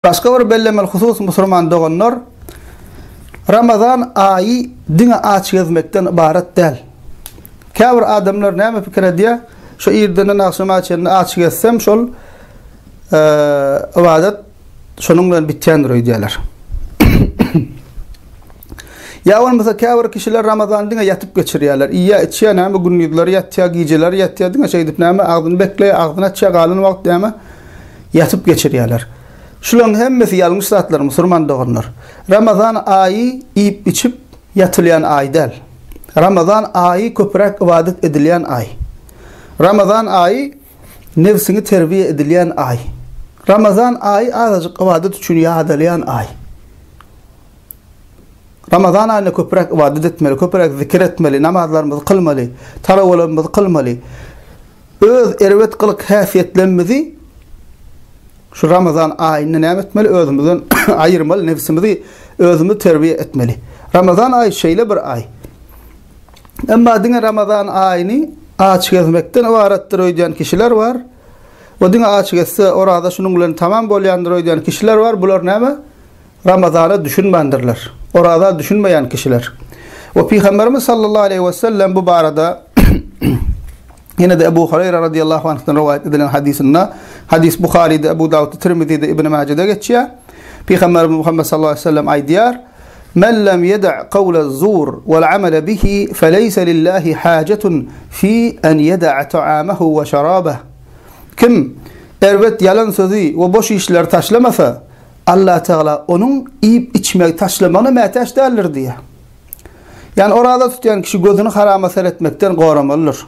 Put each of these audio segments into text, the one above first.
Başga bir bellemeli husus musulman doganlar, Ramazan aýy diňe aç gezmekden ybarat däl. Käbir adamlar näme pikir edýär? Şu irdenden agşama çenli aç gezsem, şol ybadat Şonuň bilen bitýändir öýdýärler. Ýa bolmasa käbir kişiler Ramazany diňe ýatyp geçirýärler. Iýýär, içýär, näme gündizleri ýatýar, gijeleri ýatýar, diňe şeýdip näme agzyny bekleýär, agzyny açýar, galan wagt näme ýatyp geçirýärler. Şularyň hemmesi ýalňyş zatlar musurman doganlar. Ramazan aýy iýip-içip ýatylýan aý däl. Ramazan aýy köpräk ybadat edilýän aý. Ramazan aýy Nebsiňi terbiýe edilýän aý. Ramazan aýy azajyk ybadat üçin ýadalýan aý. Ramazan aýynda köpräk ybadat etmeli, köpräk zikir etmeli, namazlarymyzy kylmaly, talawalarymyzy kylmaly. Öz erbet gylyk häsiýetlerimizi şu Ramazan aýynda näme etmeli? Özümizden aýyrmaly, nebsimizi özümiz terbiýe etmeli. Ramazan aýy şeýle bir aý. Emma diňe Ramazan aýyny aç gezmekden ybaratdyr öýdýän kişiler bar we diňe aç gezse, oraza şunuň bilen tamam bolýandyr öýdýän kişiler bar, bular näme? Ramazana düşünmändirler. Oraza düşünmeýän kişiler. We Pygamberimiz sallallahu aleýhi wesellem bu barada Ýene-de Ebu Hureýre radýallahu anhdan rowaýat edilen hadysynda, hadys Buharyda, Ebu Dawudda, Tirmizide, Ibn Majede geçýär. Pygamberimiz Muhammet sallallahu aleyhi ve sellem aýdýar: "Men lem yeda' qawlaz zur wal amala bihi feleysa lillahi hajatun fi an yada'a ta'amahu ve şarabah." Kim erbet ýalan sözi we boş işleri taşlamasa, Allah Tagala onuň iýip-içmegi taşlamagyna mätäç däldir diýýär. Ýagny oraza tutýan kişi gözüni harama seretmekden goramalydyr.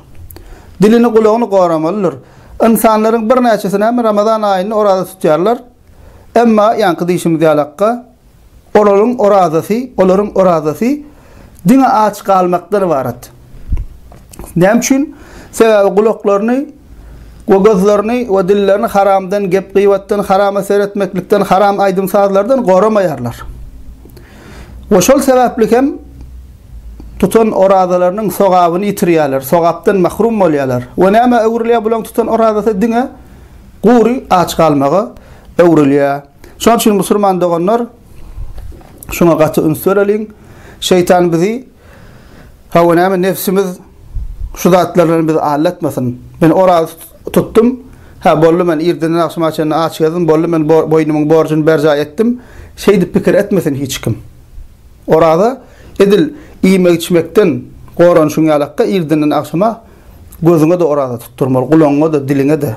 Dilini, gulagyny goramalydyr. Ynsanlaryň birnäçesi näme Ramazan aýynda oraza tutýarlar. Emma ýaňky diýşimiz ýalakka, olaryň orazasy, olaryň orazasy diňe aç galmakdan ybarat. Näme üçin? Sebäbi gulaklaryny we gözlerini we dillerini haramdan, gep-gybatdan, harama seretmeklikden, haram aýdym-sazlardan goramaýarlar. We şol sebäpli hem tutan orazalarynyň sogabyny ýitirýärler, sogapdan mahrum bolýarlar. We näme öwrülýär bularyň tutan orazasy diňe gury aç galmaga öwrülýär. Şonuň üçin musulman doganlar şuňa gaty üns bereliň. Şeýtan bizi Hawa, näme, nebsimiz şu zatlar bilen bizi aldatmasyn. Men oraz tutdum. Hä, boldy, men irdinden agşama çenli aç gezdim, boldy, men boýnumyň borjuny berjaý etdim. Şeýdip pikir etmesin hiç kim. Oraza edil iýmek-içmekden goranyşyň ýalakka, irdinden agşama gözüňe-de oraza tutdurmaly, gulagyňa-da, diliňe-de.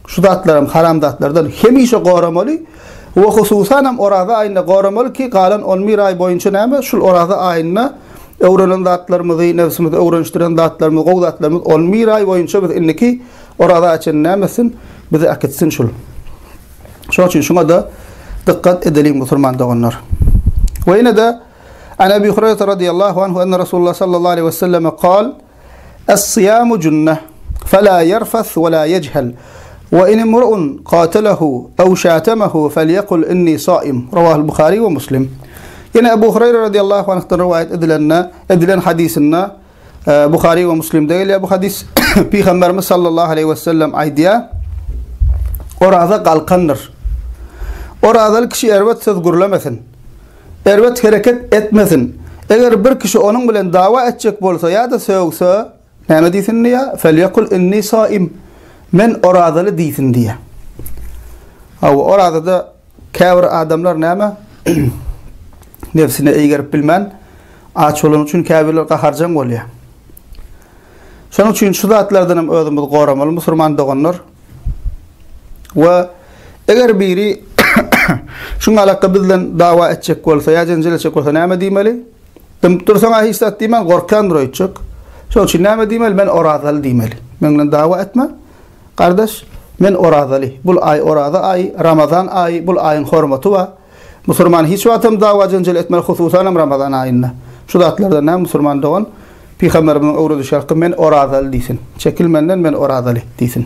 Şu zatlaram haramzatlardan hemişe goramaly we hususan hem oraza aýynda goramaly ki galan on bir aý boýunça näme şul oraza aýynda öwrenen zatlarymyzy nebsimizi öwrenişdiren zatlarymyzy gowy zatlarymyzy on bir aý boýunça biz indiki oraza açan näme etsin bizi akitsin şul şoň üçin şuňa da dykkat edeliň musulman doganlar we ine de An Abi Hurayra radiyallahu anhu enne Rasulullah sallallahu aleyhi ve selleme kal Es-syýamu junneh, Fe-lâ ýerfeth we-lâ ýejhel, we in imru'un katelehu ew şatemehu felyekul inni saim, Rawahul Buhari we Muslim. Ýene Ebu Hureýre radyýallahu anhdan rowaýat edilende, edilen hadysynda, Buhari we Muslimde gelýär bu hadys, Pygamberimiz sallallahu aleýhi we sellem aýdýar, Oraza galkandyr. Orazaly kişi erbet söz gürlemesin. Erbet hereket etmesin. Eger bir kişi onuň bilen dawa etjek bolsa ýa-da sögse, näme diýsin diýýär? Felýekul inni saim. Men orazaly diýsin diýýär. Hawa, orazada käbir adamlar näme? Nebsine eýgerip bilmän, aç bolany üçin käbirler gaharjaň bolýar. Şonuň üçin şu zatlardan hem özümizi goramaly, musulman doganlar. We eger biri şuň alakda bizden dawa etjek bolsa ýa jenjel etjek bolsa näme diýmeli? Dymyp dursaň-a hiç zat diýmän gorkýandyr öýtjek. Şoň üçin näme diýmeli? Men orazaly diýmeli. Men bilen dawa etme. Gardaş, men orazaly. Bul aý oraza aýy, Ramazan aýy, bul aýyň hormaty bar. Musurman hiç wagtam dawa-jenjel etmez hususanam Ramazan aýynda. Şu zatlardan nä musurman dogan Pygamberimiziň öwredişi ýaly men orazaly diýsin. Çekil menden men orazaly diýsin.